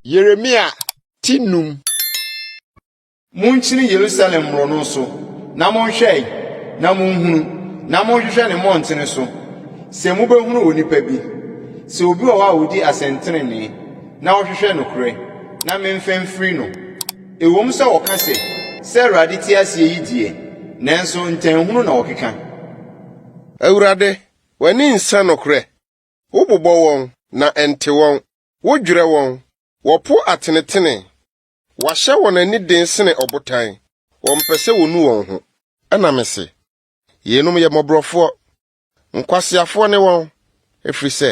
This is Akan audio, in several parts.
Yeremia ti num. Monkyini Yerusalem mmorɔno so, na monhwɛe, na monhunu, na monhwehwɛ ne mmɔntene so, sɛ mubehunu onipa bi, sɛ obi wɔ hɔ a odi asɛntrenee, na ɔhwehwɛ nokorɛ, na memfa mfiri no. Ɛwom sɛ wɔka sɛ, Sɛ Awurade te ase yi deɛ, nanso ntɛnhunu na wɔkeka. Awurade, w'ani nsɛ nokorɛ. Wobobɔ wɔn, na ɛnte wɔn. Wodwerɛ wɔn, wɔpo atenetenee. Wɔahyɛ wɔn ani den sene ɔbotan, wɔmpɛ sɛ wɔnu wɔn ho. Ɛnna mese, Yeinom yɛ mmɔborɔfoɔ, Nkwaseafoɔ ne wɔn, ɛfiri sɛ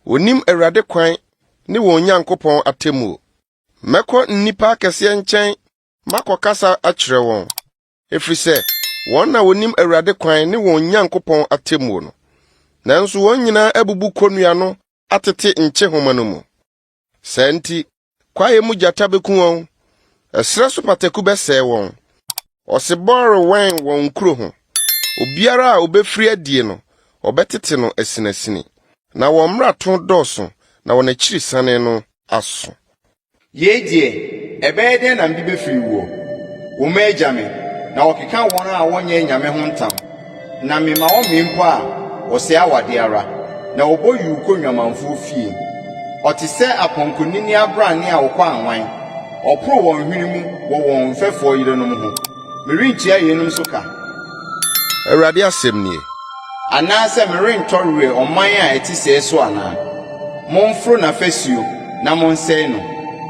wɔnim Awurade kwan ne wɔn Nyankopɔn atemmuo. Mɛkɔ nnipa akɛseɛ nkyɛn makɔkasa akyerɛ wɔn, ɛfiri sɛ wɔn na wɔnim Awurade kwan ne wɔn Nyankopɔn atemmuo no. Nanso wɔn nyinaa abubu kɔnnua no atete nkyehoma no mu. Saa nti, kwaeɛ mu gyata bɛku wɔn, ɛserɛ so pataku bɛsɛe wɔn. Ɔsebɔ rewɛn wɔn nkuro ho, obiara a ɔbɛfiri adie no, wɔbɛtete no asinasini. Na wɔn mmarato dɔɔso, na wɔn akyirisane no aso. Yei deɛ, ɛbɛyɛ dɛn na mede bɛfiri woɔ? Wo mma agya me, na wɔkeka wɔn a wɔnyɛ anyame ho ntam. Na mema wɔmee mpo a, wɔsɛe awadeɛ ara, na wɔbɔ yuu kɔ nnwamanfoɔ fie. Wɔte sɛ apɔnkɔnini abrane a wɔkɔ anwan, wɔporo wɔn hwene mu wɔ wɔn mfɛfoɔ yerenom ho. Merentua yeinom so ka. Awurade asɛm nie. Anaasɛ merentɔ werɛ ɔman a ɛte sɛɛ so anaa? Momforo n'afasuo na monsɛe no,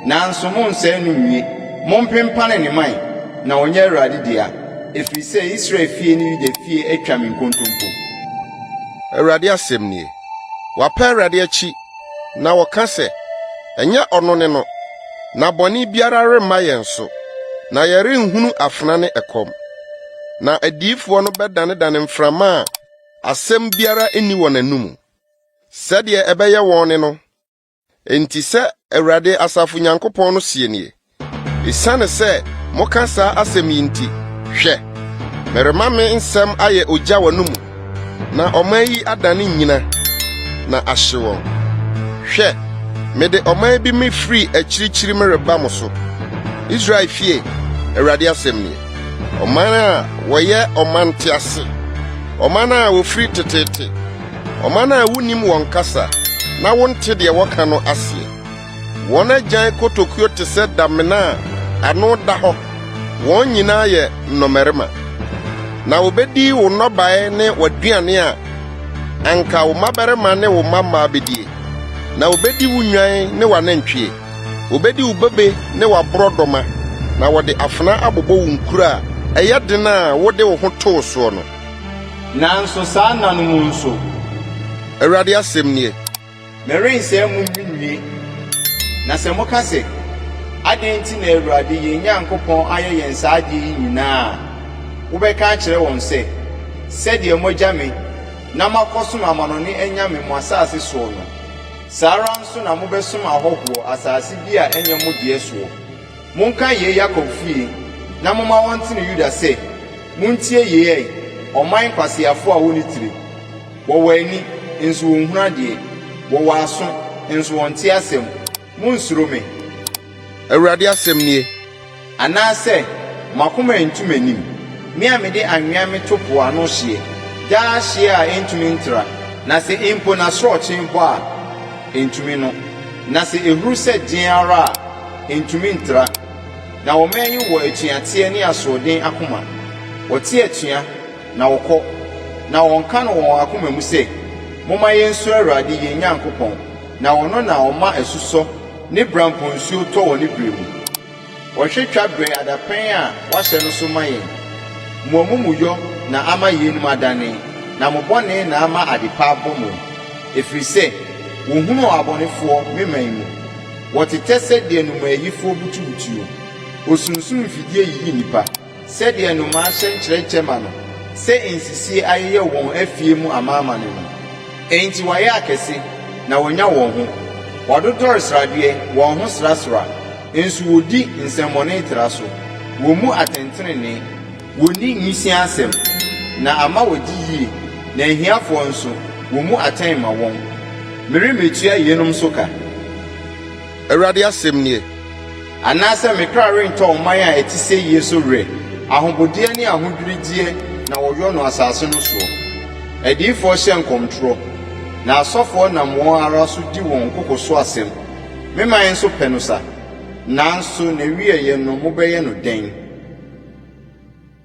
nanso monnsɛe no nwie. Mompempane ne mman, na ɔnyɛ Awurade dea. Ɛfiri sɛ Israel fie ne Yuda fie atwa me nkontompo. Awurade asɛm nie. Wɔapa Awurade akyi, na wɔka sɛ, Ɛnyɛ ɔno ne no, na bɔne biara remma yɛn so, na yɛrenhunu afena ne ɛkɔm. Na adiyifoɔ no bɛdanedane mframa a asɛm biara nni wɔn anomu, sɛdeɛ ɛbɛyɛ wɔn ne no Enti sɛ Awurade asafo Nyankopɔn no seɛ nie, Esiane sɛ moka saa asɛm yi nti, hwɛ! merema me nsɛm ayɛ ogya w'anomu, na ɔman yi adane nnyina, na ahye wɔn. Hwɛ! mede ɔman bi mefiri akyirikyiri mereba mo so, Israel fie, Awurade asɛm nie, ɔman a wɔyɛ ɔman ntease, ɔman a wɔfiri teteete. ɔman a wunnim wɔn kasa na wonte deɛ wɔka no aseɛ. Wɔn agyan kotokuo te sɛ damena a ano da hɔ, wɔn nyinaa yɛ nnɔmmarima. Na wobɛdi wo nnɔbaeɛ ne w'aduane a anka wo mmabarima ne wo mmammaa bɛdie, na wobɛdi wo nnwan ne w'anantwie. Wobɛdi wo bobe ne w'aborɔdɔma, na wɔde afena abobɔ wo nkuro a ɛyɛ den a wode wo ho too soɔ no. Nanso saa nna no mu nso. Awurade asɛm nie. Merensɛe mo nwie. Na sɛ moka sɛ, 'Adɛn nti na Awurade yɛn Nyankopɔn ayɛ yɛn saa adeɛ yi nyinaa? a, wobɛka akyerɛ wɔn sɛ, 'Sɛdeɛ moagya me na moakɔsom amanɔne anyame mo asase soɔ no, saa ara nso na mobɛsom ahɔhoɔ asase bi a ɛnyɛ mo deɛ soɔ. Monka yei Yakob fie, na momma wɔnte no Yuda sɛ, Montie yei ɛ, ɔman nkwaseafoɔ a wɔnni tire. Wɔwɔ ani, nso wɔnhunu adeɛ, wɔwɔ aso, nso wɔnte asɛm. Monnsuro me. Awurade asɛm nie. Anaasɛ mo akoma antu m'anim, me a mede anwea meto po ano hyeɛ, daa hyeɛ a ɛntumi ntra, na sɛ mpo n'asorɔkye bɔ a, ɛntumi no, na sɛ ɛhuru sɛ deɛn ara a, Entumi ntra. Na wɔman yi wɔ atuateɛ ne asoɔden akoma. Wɔte atua, na wɔkɔ, na wɔka no wɔ wɔn akoma mu sɛ, Momma yɛnsuro Awurade yɛn Nyankopɔn, na ɔno na ɔma asusɔ ne brampo nsuo tɔ wɔ ne berɛ mu. Ɔhwɛ twa berɛ adapɛn a wahyɛ no so ma yɛn. Mo amumuyɔ na ama yeinom adane, na mo bɔne na ama adepa abɔ mo, ɛfiri sɛ wɔhunuu abɔnefoɔ me man mu. Wɔtetɛ sɛdeɛ nnomaayifoɔ butubutuo. Osunsum mfidie yiyi nnipa. Sɛdeɛ nnomaa hyɛ nkyerɛkyɛ ma no. Sɛ nsisie ayeyɛ wɔn afie mu amanaman no. Enti wɔayɛ akɛse, na wɔnya wɔn ho. Wɔadodɔre sradeɛ, wɔn ho srasra. Nso wɔdi nsɛmmɔne tra so. Wɔmmu atɛntenenee. Wɔnni nwisiaa asɛm, na ama wɔadi yie, na ahiafoɔ nso, wɔmmu atɛn mma wɔn. Meremmɛtua yeinom nso ka. Awurade asɛm nie. Anaasɛ me kra rentɔ ɔman a ɛte sɛie so werɛ, ahobodeɛ ne ahodwiredeɛ na wɔyɔ no asase no soɔ. Adiyifoɔ hyɛ nkɔmtorɔ, na asɔfoɔ nam wɔn ara so di wɔn koko so asɛm. Me man nso pɛ no sa. Nanso n'awieeɛ no mobɛyɛ no dɛn?